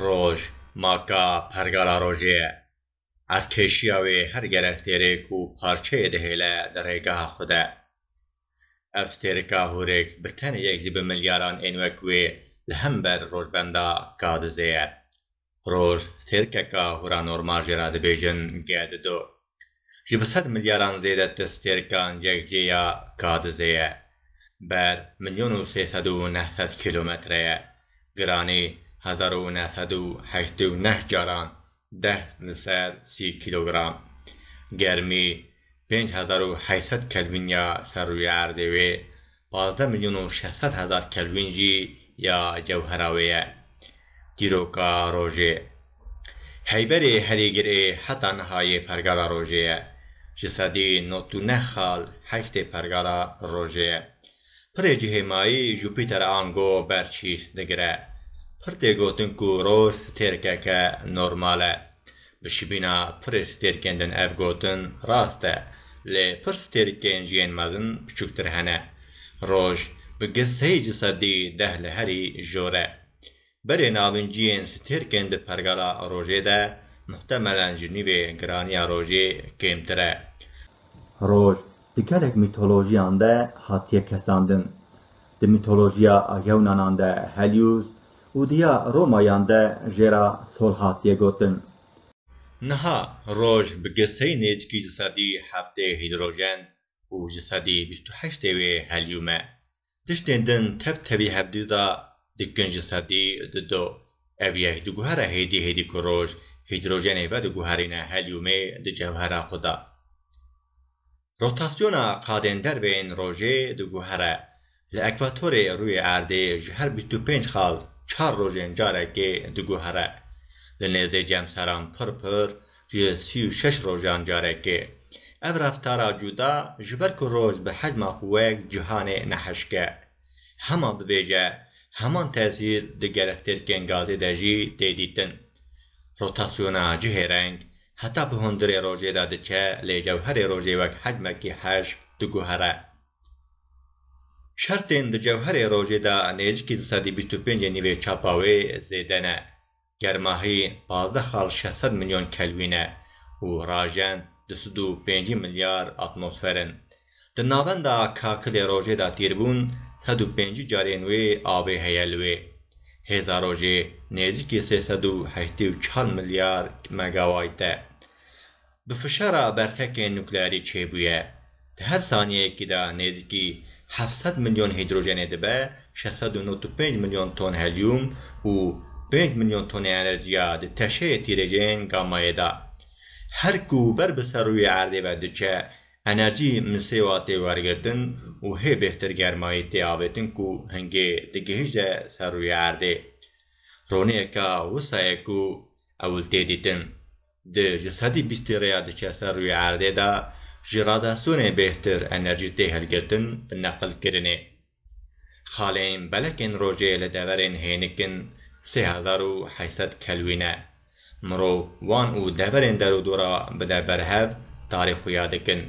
Roj maka pergala rojê ye. Erdkeşiya wê her gelek têrêk û parçeyê dihêle di rêgeha xwe de. Ev têrika hûrêk bi tenê yek jî bi milyaran ên wek wê li hember rojbenda Kadizê ye. Roj, stêrkeka huranormal jê re dibêjin ge di do. Ji bi sed milyaran zêde ti stêrkan yekcê ya Kadizê ye. Ber milyon û sê sed û neh sed kîlometre ye. Giranî hezar û neh sed û heştê û neh caran deh li ser sî kîlogram. Germî Pênc hezar û heşt sed kelvîn ya ser rûyê erdê wê, pazdeh milyon û şeş sed hezar kelvîn jî ya cewhera wê ye. Dîroka rojê. Heyberê herî gir ê heta niha yê pergala rojê ye. Ji sedî not û neh xal heştê pergala rojê ye. Pirê cihê mayî Jupîter an go ber çîs digire. Pir tê gotin ku roj stêrkeke normal e. Bi şibîna pirê stêrkên din ev gotin rast e, lê pir stêrkên ji yên mezin biçûktir hene. Roj bi girt sey ji sedî deh li herî jor e. Berê navîn ciyên stêrkên di pergala rojê de muhtemelen ji nîvê giraniya rojê kêmtir e. Roj di gelek mîtolojiyan de hatiye kesandin. Di mîtolojiya Yewnanan de Helios û di ya Romayan de jê re Thor hatiye gotin. Niha roj bi geseyî nêzîkî ji sedî heftê hîdrojen û ji sedî bîst û heştê wê helium e. Tiştên din tev tevî hevdî de dikin ji sedî di do. Ev yek diguhere hêdî hêdî ku roj hîdrojenê vediguherîne heliumê di cewhera xwe de. Rotasyona qadên derve yên rojê diguhere. Li ekwatorê rûyê erdê ji her bîst û pênc xal çar rojên carekê diguhere. Li nêzê cemseran pir pir ji sî û şeş rojan carekê. Ev reftara cuda ji ber ku roj bi hecma xwe wek cihanê nehişke. Hema bibêje, heman tesîr di gerektêrkên gazê de jî tê dîtin. Rotasyona cihê reng heta bi hundirê rojê de diçe lê cewherê rojê wek hecmekî heş diguhere. Şertên di cewherê rojê de nêzîkî di sedî bîst û pêncê nîvê çapa wê zêde ne. Germahî pazdeh xal şeş sed milyon kelwîn e û rajen du sed û pêncî milyar atmosfer in. Di navenda kakilê rojê de tîrbûn sed û pêncî carên wê avê heye li wê. Hêza rojê nêzîkî sê sed û heştê û çar milyar megawayt e. bi fişara bertekên nuklearî çêbûye. Di her saniyeyekî de nêzîkî heft sed milyon hîdrojenê dibe şeş sed û nod û pênc milyon ton helyûm û pênc milyon tonê enerjiya di teşeyê tîrêjên gamayê de. Her ku ber bi ser rûyê erdê ve diçe, enerjî misewa tê wergirtin û hê bêhtir germayî tê avêtin ku hingê digihîje ser rûyê erdê. Roneyeke wisa ye ku ewil tê dîtin. Di ji sedî bîstî rêya diçe ser rûyê erdê de ji radiyasyonê bêhtir enerjî tê hilgirtin bi neqilkirinê. Xaleyên belekên rojê li deverên hênik in sê hezar û heşt sed kelwîn e. Mirov wan û deverên derûdora bide berhev tarê xuya dikin.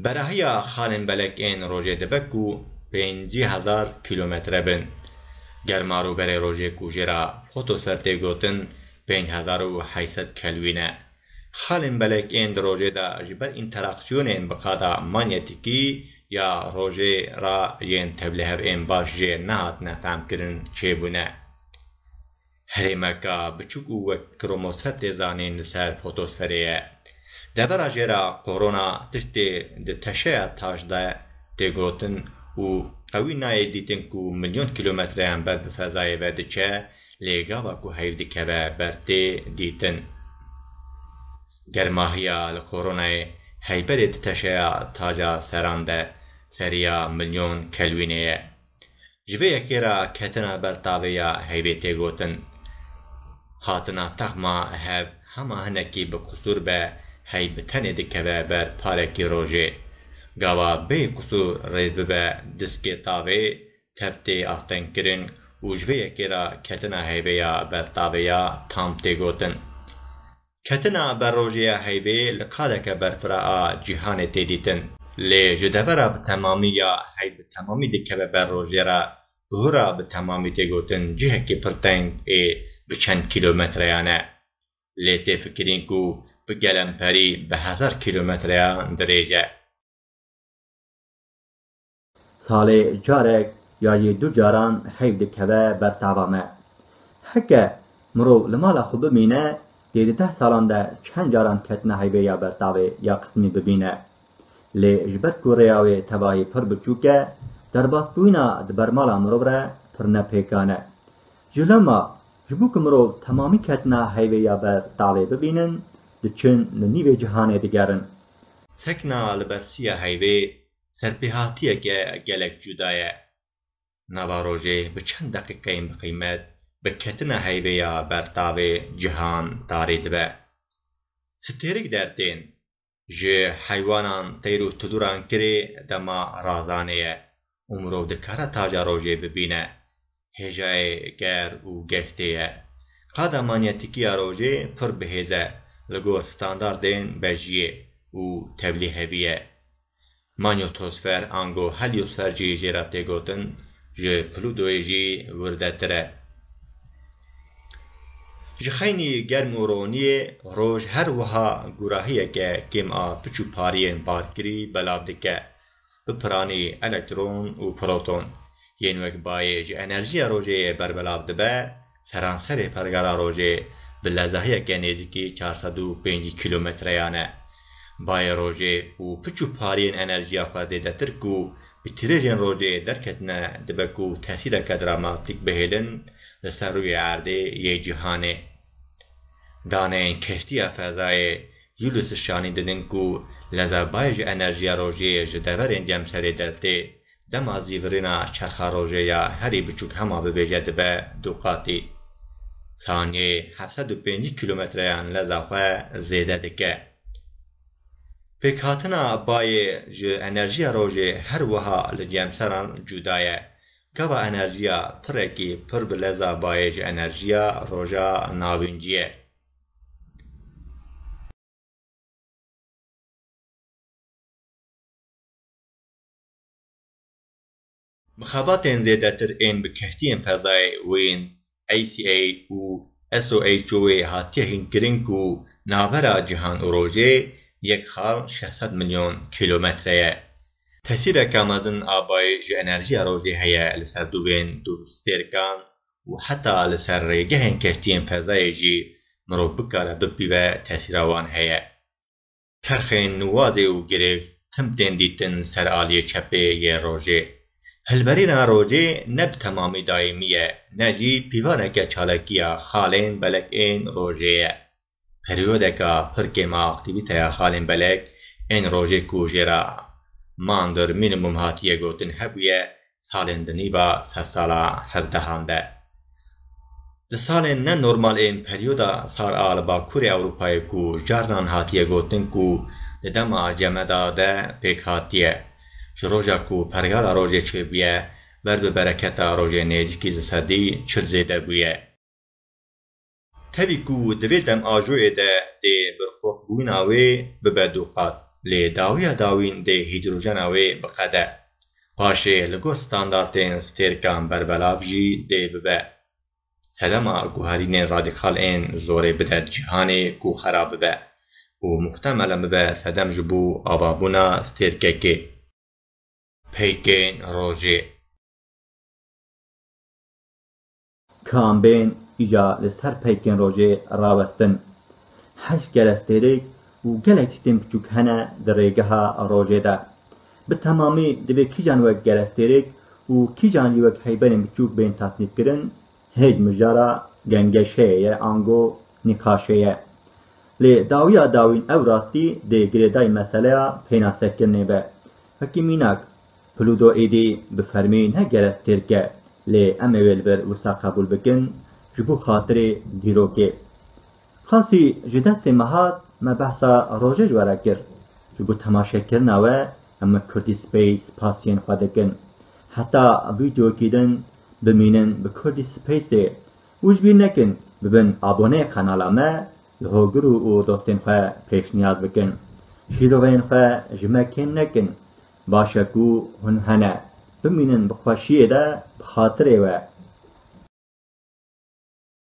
Berahiya xalên belek ên rojê dibe ku pêncî hezar kîlometre bin. Germarû berê rojê ku jê re fotosfer tê gotin pênc hezar û heşt sed kelwîn e. Xalên belek ên di rojê de ji ber înteraksiyonên bi qada manyetîkî ya rojê re yên tevlihev ên baş jê nehatine fehmkirin çêbûne. Herêmeka biçûk û wek kromosel tê zanîn li ser fotosferê ye. Devera jê re korona tiştê di teşeya taş de tê gotin û qewî nayê dîtin ku milyon kîlometreyan ber bi fezayê ve diçe lê gava ku heyv dikeve ber tê dîtin. Germahiya li koronayê hey berê di teşeya taca seran de seriya milyon kelwînê ye. Ji vê yekê re ketina ber tavê ya hevê tê gotin. Hatina texma hev hema hinekî bi qusûr be hey bi tenê dikeve ber parekî rojê. Gava bê qusûr rêz bibe diskê tavê tev tê astengkirin û ji vê yekê re ketina hevê ya ber tavê ya tam tê gotin. Ketina ber rojê ya heyvê li qadeke berfira a cîhanê tê dîtin. Lê ji devera bi temamî ya heyv bi temamî dikeve ber rojê re bihura bi temamî tê gotin cihekî pir teng ê bi çend kîlometreyan e. Lê tê fikirîn ku bi gelemperî bi hezar kîlometreyan dirêj e. Salê carek ya jî du caran heyv dikeve ber tava me. Heke mirov li mala xwe bimîne dê di deh salan de çend caran ketina heyvê ya ber tavê ya qismî bibîne. Lê ji ber ku rêya wê tevahî pir biçûk e, derbasbûyina di ber mala mirov re pir ne pêkan e. Ji loma ji bo ku mirov temamî ketina heyvê ya ber tavê bibînin diçin li nîvê cihanê digerin. Sekna li ber siya heyvê Serpêhatiyeke gelek cuda ye. Nava rojê bi çend deqîqeyên bi qîmet bi ketina heyvê ya bertavê cihan tarî dibe. Stêrik der tên. Ji heywanan, teyr û tuluran kirê dema razanê ye û mirov dikare taja rojê bibîne. Hêjayê ger û geştê ye. Qada manyetîkîya rojê pir bihêz e li gor standardên bejiyê û tevlî hevî ye. Manyotosfer ango helyosfer jî jê re tê gotin, ji Plutoyê jî wirdetir e. Ji xeynî germ û roniyê roj her wiha gurahiyeke kêm a piçûpariyên barkirî belav dike. bi piranî elektron û proton yên wek bayê ji enerjiya rojê yê berbelav dibe, seranserê pergala rojê bi lezahiyeke nêzîkî çar sed û pêncî kîlometreyan e. Bayê rojê û piç û pariyên enerjiya xwe zêdetir ku bi tîrêjên rojê derketine dibe ku tesîreke dramatîk bihêlin li ser rûyê erdê yê cîhanê. Daneyên keştiya fezayê Ulysses Şanî didin ku leza bayê ji enerjiya rojê ji deverên cemserê dertê, dema zî virîna çerxa rojê ya herî biçûk hema bibêje dibe du qatî. Saniyeyê heft sed û pêncî kîlometreyan leza xwe zêde dike. Pêkhatina bayê ji enerjiya rojê her wiha li cemseran cuda ye. Gava enerjiya pirekî pir bi leza bayê ji enerjiya Roja Navînciyê. Mixebatên zêdetir ên bi keştiyên fezayê û yên ACA û SOHO'ê hatiye hînkirin ku navbera cîhan û rojê yek xal şeş sed milyon kîlometre ye. Tesîreke mezin a bayê ji enerjiya rojê heye li ser dûvên dûvstêrkan û heta li ser rêgehên keştiyên fezayê jî mirov bikare bipîve tesîra wan heye. Çerxên nuwazê û girêv tim tên dîtin li ser aliyê çepê yê rojê. Hilberîna rojê ne bi temamî daîmî ye, ne jî pîvaneke çalakiya xalên belek ên rojê ye. Periyodeka pir kêm a aktîvîteya xalên belek ên rojê ku jê re Mander Minimum hatiye gotin hebûye, salên di nîva sedsala hevdehan de. Di salên ne normal ên peryoda sar a li Bakurê Ewropayê ku carnan hatiye gotin ku di dema Cemeda de pêk hatiye, ji roja ku pergala rojê çêbûye ber bi bereketa rojê nêzîkî di sedî çil zêde bûye. Tevî ku di vê demajoyê de dê birqûqbûyina wê bibe duqat, lê dawiya dawîn dê hîdrojena wê biqede. Paşê li gor standartên stêrkan berbelav jî dê bibe. Sedema guherînên radîkal ên zorê bide di cîhanê ku xera bibe û muhtemelen bibe sedem ji bo avabûna stêrkekê. Peykên rojê. Kambên ya li ser peykên rojê rawestin, heşt kerestêrek û gelek tiştên biçûk hene di rêgeha rojê de. Bi temamî divê kîjan wek kerestêrek û kîjan jî wek heyberên biçûk bên tasnîfkirin, hêj mijara gengeşeyê ye ango nîqaşê ye. Lê dawiya dawîn ew rastî dê girêdayî meseleya pênasekirinê be. Wekî mînak, Pluto êdî bi fermî ne gerek têrk e, lê em ê wê li vir wisa qebûl bikin ji bo xatirê dîrokê. Qasî ji destê me hat, me behsa rojê ji we re kir. Ji bo temaşekirina we em li Kurdî Space spasiyên xwe dikin. Heta vîdeoyekî din bimînin bi Kurdî Spaceê û ji bîr nekin bibin aboneyê qenala me, li hogir û dostên xwe pêşniyaz bikin. Şîroveyên xwe ji me kêm nekin, Baş e ku hûn hene. Bimînin bi xweşiyê de bi xatirê we.